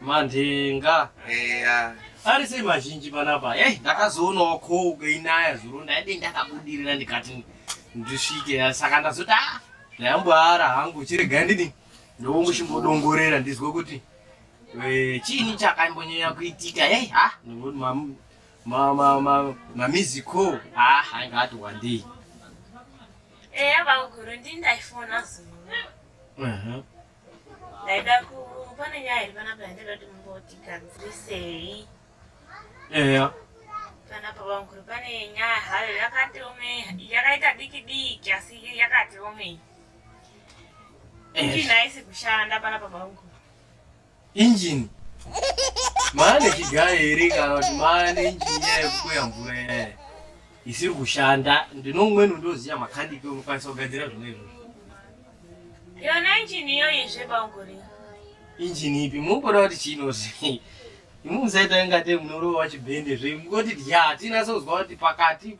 Mandenga. Eya. Ari sei mazhinji panapa? Eh, ndakazoonawo cold kweinaya zuro ndaide ndakabudirira ndikati ndisvike saka ndazoti ah ndayamboara hangu chirega ndini ndomuchimbodongorera ndizwe kuti eh, chiini chakambonyanya kuitika hey, ha mamiziko ha anga ati wandei eya eh, vaguru ndindaifona zuva ndaida ku pane nyaya iri panapa yandaida kuti mumbotigadzirisei eya panapa vamukuru pane nyaya hayo yakati ome yakaita diki diki asi yakati ome injini haisi kushanda panapa vamukuru Engine. Maane chigayo here kana kuti maane engine yayo kuya mvura yayo isiri kushanda ndinomweni ndoziya makandike unokwanisa kugadzira zvona izvozvo. Yona engine iyoyi zvebanguri. Engine ipi munokuda kuti chinozi imusaita ingate munorova chibhende zve mungoti dya tinasozwa kuti pakati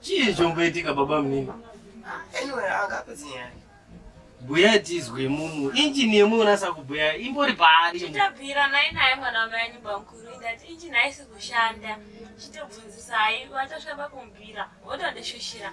Chii chomboitika baba munini? Anyway, angapedzi nyaya yake. Bhuya tizwe mumu. Injini yemwe unasa kubhuya imbori paari. Chitabvira naye naye mwana wamai anyu bamkuru that injini haisi kushanda. Chitobvunzisa hai watosvika pakumbira wotondishushira.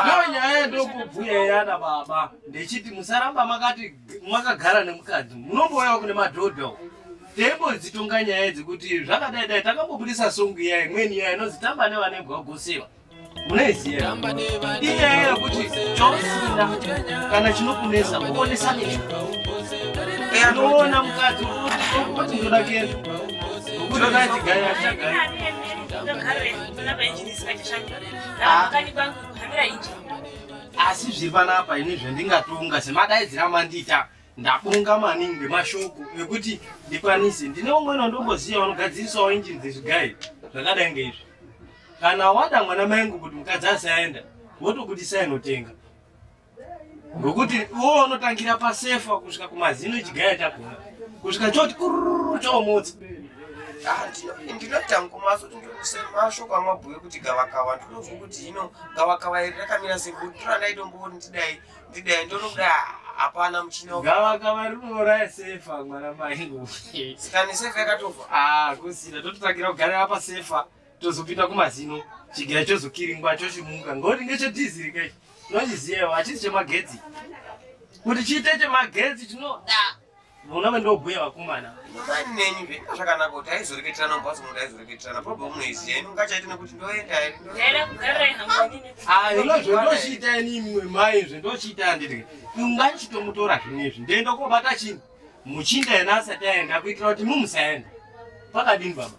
Ndiyo nyaya yandokubhuya yana baba ndechiti musaramba makati makagara nemukadzi munombouyawo kune madhodha uko teimbonzi tonga nyaya idzi kuti zvakadai dai takambobudisa songo iya imweni iya inonzi tamba nevana ibwagosewa munoiziva inyaya yekuti chausinda kana chinokunesa kuonesa necho anoona mukadzi kuti ndoda kenda nokuti kana chigaya chagaya asi zviri panapa ini zvendingatonga semadaidzira mandita ndabonga maningi nemashoko ekuti ndikwanise ndine umweni wandongoziva vanogadzirisawo injini dzezvigai zvakadai ngeizvi kana wada mwana maengu kuti mukadzi asaenda wotokudisa inotenga ngokuti iwowo unotangira pasefa kusvika kumazino echigaya chakona kusvika choti kururu choomotsa ndinotangomaso tindosemasho kwamabhuya kuti gavakava ndinozwa kuti hino gavakava iri rakamira sekuti randaitombooni ndidai ndidai ndonokuda hapana muchina gavakava rinouraya sefa mwana mai sikani sefa yakatofa ah, kusina tototangira kugarira pasefa tozopinda kumazino chigaya chozokiringwa chochimuka ngoti ngechedhiziri kai tinochiziva hachisi chemagetsi kuti chiite chemagetsi chinoda vona vandobhuya vakomana mani nenyu zvaita zvakanaka kuti aizoreketerana mumbatso munhu aizoreketerana problem noiziya ino ngachaite nekuti ndoenda zvendochiita ini imwe mai zvendochiita anditi ungachitomutora zvinezvi ndoenda kobata chini muchinda yena asati aenda kuitira kuti mumusaenda pakadini baba